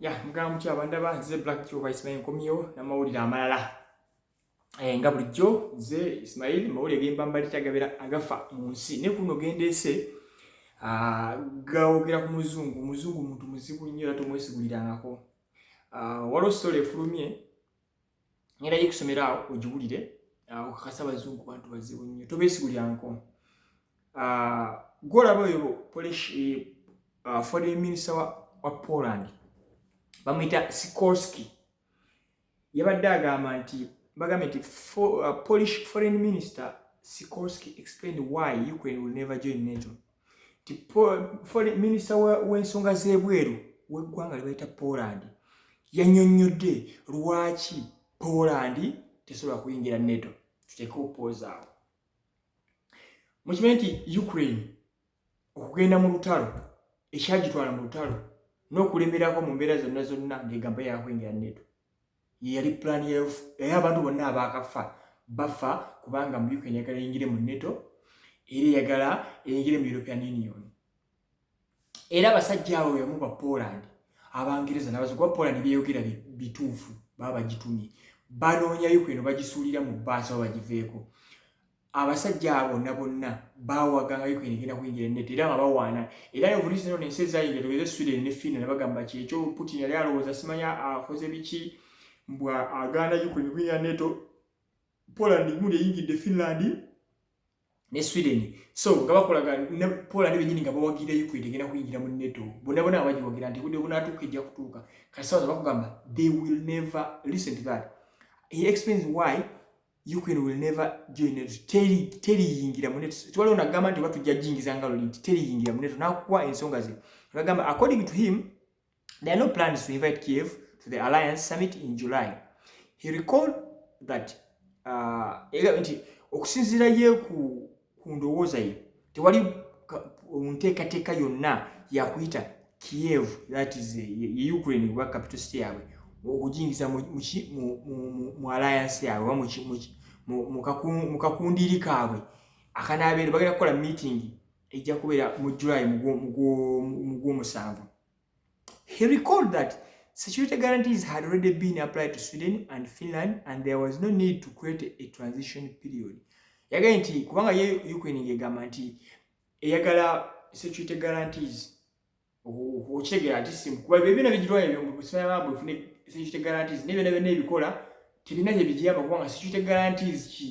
ya mugamba mutya abandaba nze black joba ismail nkomyewo namawulire amalala eh, nga bulijjo nze ismail mawulire gemba mbali tagabera agafa mu nsi ne kuno gendeese ah, gawogera ku muzungu omuzungu muntu muzibu nnyo era tomwesigulirangako ah, waliwo sitola efulumye ngenda yo kusomera awo ogiwulire ah, okakasa abazungu bantu bazibu nnyo tobesigulyanko ah, gwolaba oyo eh, ah, foreign minister wa poland bamwita sikorski yabadde agamba nti bagambye nti polish foreign minister sikorski explained why ukraine will never join nato minisita w'ensonga z'ebweru w'eggwanga lyebayita poland yanyonyodde lwaki poland tesobola kuyingira neto tuteeke opooza awo mukimanyi nti ukraine okugenda mu lutalo ekyagitwala mu lutalo n'okulemerako mu mbeera zonna zonna ng'egamba yakuyingira neto yeyali pulaani ya yufu era abantu bonna abaakafa bafa kubanga mu ukraine yagala eyingire mu neto era eyagala eyingire mu european union era abasajja abo yamu ba poland abangereza nabaza kuba poland byeyogera bituufu baba bagitumye banoonya ukraine bagisuulira mu baasi aba bagiveeko abasajja abo na bonna bawaga nga Ukraine egenda kuyingira ennete era nga bawaana era ne obulisi zino nensi ezayingira tugeze Sweden ne Finland bagamba ki ekyo Putin yali alowooza simanya akoze biki mbwa agaana Ukraine kuyingira neto Poland gundi eyingidde Finland ne Sweden so nga bakolaga ne Poland benyini nga bawagira Ukraine egenda kuyingira mu neto bona bona abagiwagira nti budde bunatuuka ejja kutuuka kati sawa bakugamba they will never listen to that he explains why Ukraine will never join NATO. Teri teri yingira mu NATO. Twali ona gamba nti watu jajingiza ngalo nti teri yingira mu NATO. Na kuwa ensonga ze. Bagamba according to him there are no plans to invite Kiev to the alliance summit in July. He recalled that uh, ega nti okusinzira ye ku ku ndowooza ye tewali nteekateeka yonna yakuyita kiev that is eh, ye ukraine oba capital city yaabwe okujingiza mu alliance yaabwe oba mu kakundiiri kaabwe akanaabeera bagenda kukola meeting ejja kubeera mu july mugwomusanvu He recalled that security guarantees had already been applied to Sweden and Finland and there was no need to create a transition period. Yagambye nti kubanga ye Ukraine ng'egamba nti eyagala security guarantees okitegeera nti simu kuba ebyo byona bigirwa ebyo mu busomera bwabwe ofune security guarantees n'ebyona byona ebikola tebina gye bigiyamba kubanga security guarantees ki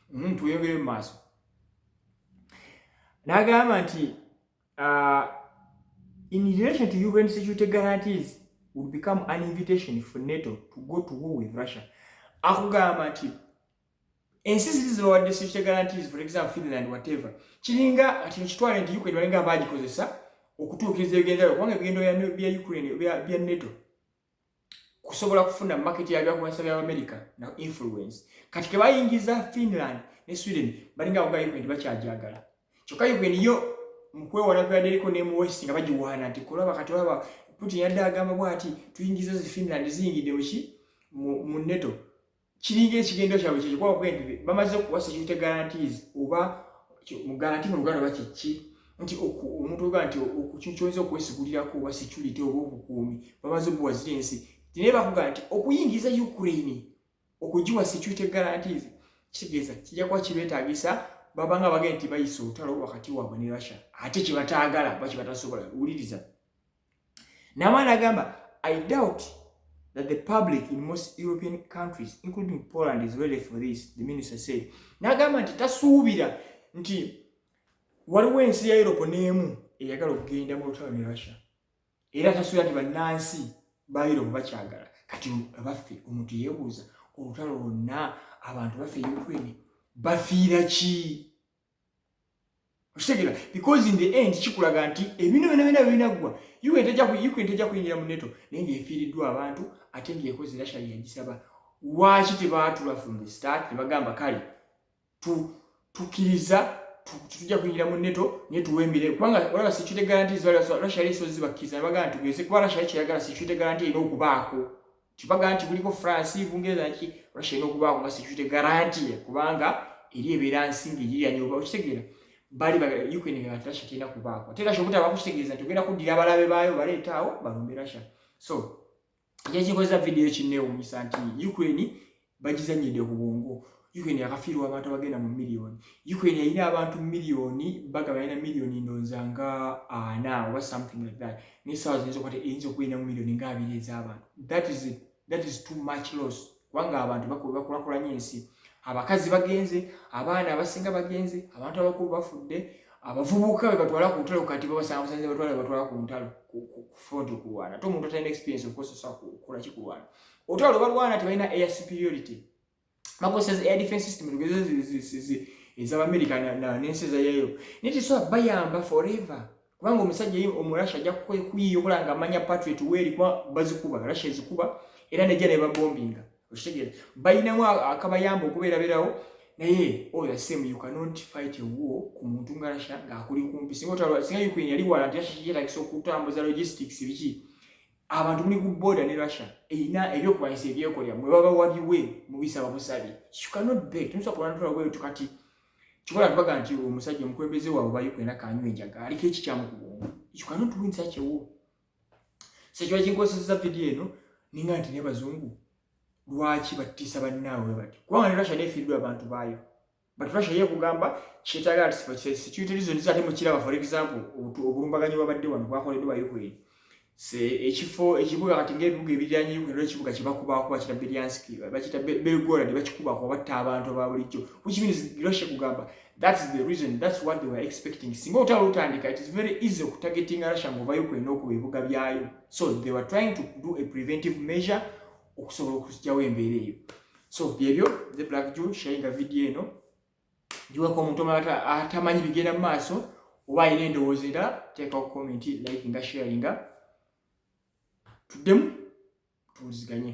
mm, tweyongere mu maaso n'agamba nti uh, in relation to un security guarantees will become an invitation for nato to go to war with russia akugamba nti ensi ziri zibawadde security guarantees for example finland whatever kiringa ati kitwale nti ukraine balinga baagikozesa okutuukiriza ebigendayo kubanga ebigendayo bya ukraine bya nato kusobola kufuna market ya byakulwanyisa bya america na influence kati ke bayingiza finland ne sweden balinga awoga yuko nti bakyajagala kyokka yuko niyo mukwewana kweyadereko ne mu west nga bagiwaana nti kulaba kati olaba putin yadde agamba bwati tuyingiza zi finland ziyingidde muki mu neto kiringa ekigendo kyabwe kyekikuba okuga nti bamaze okuwa security guarantees oba mu guarantee mu luganda bakiki nti omuntu oga nti okukyukyonza okwesigulirako oba security oba obukuumi bamaze obuwa ziri ensi tinaye bakuga nti okuyingiza ukraine okugiwa security guarantees kitegeeza kijja kuba kibetagisa babanga bagenda nti bayisa olutalo wakati waabwe ne russia ate kyebataagala bakibatasobola wuliriza Namwana agamba I doubt that the public in most European countries including Poland is ready for this the minister said nagamba nti tasuubira nti waliwo ensi ya Europe n'emu eyagala okugenda mu lutalo ne Russia era tasuubira nti bannansi ba Europe bakyagala kati abaffe omuntu yeebuuza olutalo lwonna abantu baffe Ukraine bafiira ki okitegera because in the end kikulaga nti ebintu byona byona binaggwa ukraine tejja kuyingira mu neto naye ngaefiiriddwa abantu ate ngaekozi rasha yagisaba lwaki tebaatula from the start tebagamba kale tukkiriza tujja kuyingira mu neto naye tuwembire kubanga olaba security garanti zibala rasha yali esozi bakkiriza nebagamba nti tugeze kuba rasha yakyeyagala security garanti erina okubaako kibaga nti kuliko france bungereza nki russia erina okubaako nga security garantie kubanga eri ebeera nsinga egiyanya oba okitegeera bali ukraine nga russia terina kubaako ate russia obutabaako kitegeeza nti ogenda kuddira abalabe baayo baleetaawo balumbe russia so kyekikozesa vidiyo kinneewunyisa nti ukraine bagizanyidde ku bwongo ukraine yakafiirwa abantu abagenda mu miliyoni ukraine yalina abantu miliyoni baga balina miliyoni ndonza nga ana oba something like that naye saawa ziyinza okwate eyinza okubeera mu miliyoni nga abiri ez'abantu that is it that is too much loss kubanga abantu bakulakulanya ensi abakazi bagenze abaana abasinga bagenze abantu abakulu bafudde abavubuka bebatwala ku ntalo kati babasanga busanze batwala bebatwala ku ntalo ku front okulwana ate omuntu atalina experience okozesa kukola kikulwana otwala obalwana tebalina air superiority bakozesa zi air defense system tugeze ezabamerica nensi ezayayo naye tesobola bayamba forever kubanga omusajja ye omurasha ajja kuyiya okola nga amanya patriot weeri kuba bazikuba russia ezikuba era nejja nebabombinga okitegeera balinamu akabayamba okubeeraberawo naye oyo asem you cannot fight a war ku muntu nga russia ngaakuli kumpi singa ukraine yali wala nti russia kiyetagisa okutambuza logistics biki abantu muli ku border ne Russia eyina ebyo kwayisa ebyekolya mwe baba wabiwe mubisaba musabi you cannot beg tunsa kulana twa gwe tukati kikola tubaga nti omusajja omukwembeze wawe bayi kwena kanywe enjaga aliko ekikyamu ku bwongo you cannot win such a war sekyo kinkozesa video eno ninga nti ne bazungu lwaki batisa bannaabwe bati kubanga ne Russia nefiiridwa abantu baayo but russia ye kugamba kyetagala security reasons ate mukiraba for example obulumbaganyi bwabadde wano bwakoleddwa ba ukraine se ekifo ekibuga kati ngaebibuga ebiryanyi ukraine ekibuga kyebakubaako bakita belyanski bakita belgorad bakikubaako batta abantu aba bulijjo which means russia kugamba that is the reason that's what they were expecting singa olutalo lutandika it is very easy okutargetinga russia ngaoba ukraine okuba ebibuga byayo so they were trying to do a preventive measure okusobola okugyawo embeera eyo so byebyo the black jew sharinga vidiyo eno giwako omuntu omala atamanyi bigenda mu maaso oba alina endowooza era teekawo komenti like nga sharinga tuddemu tuwuliziganye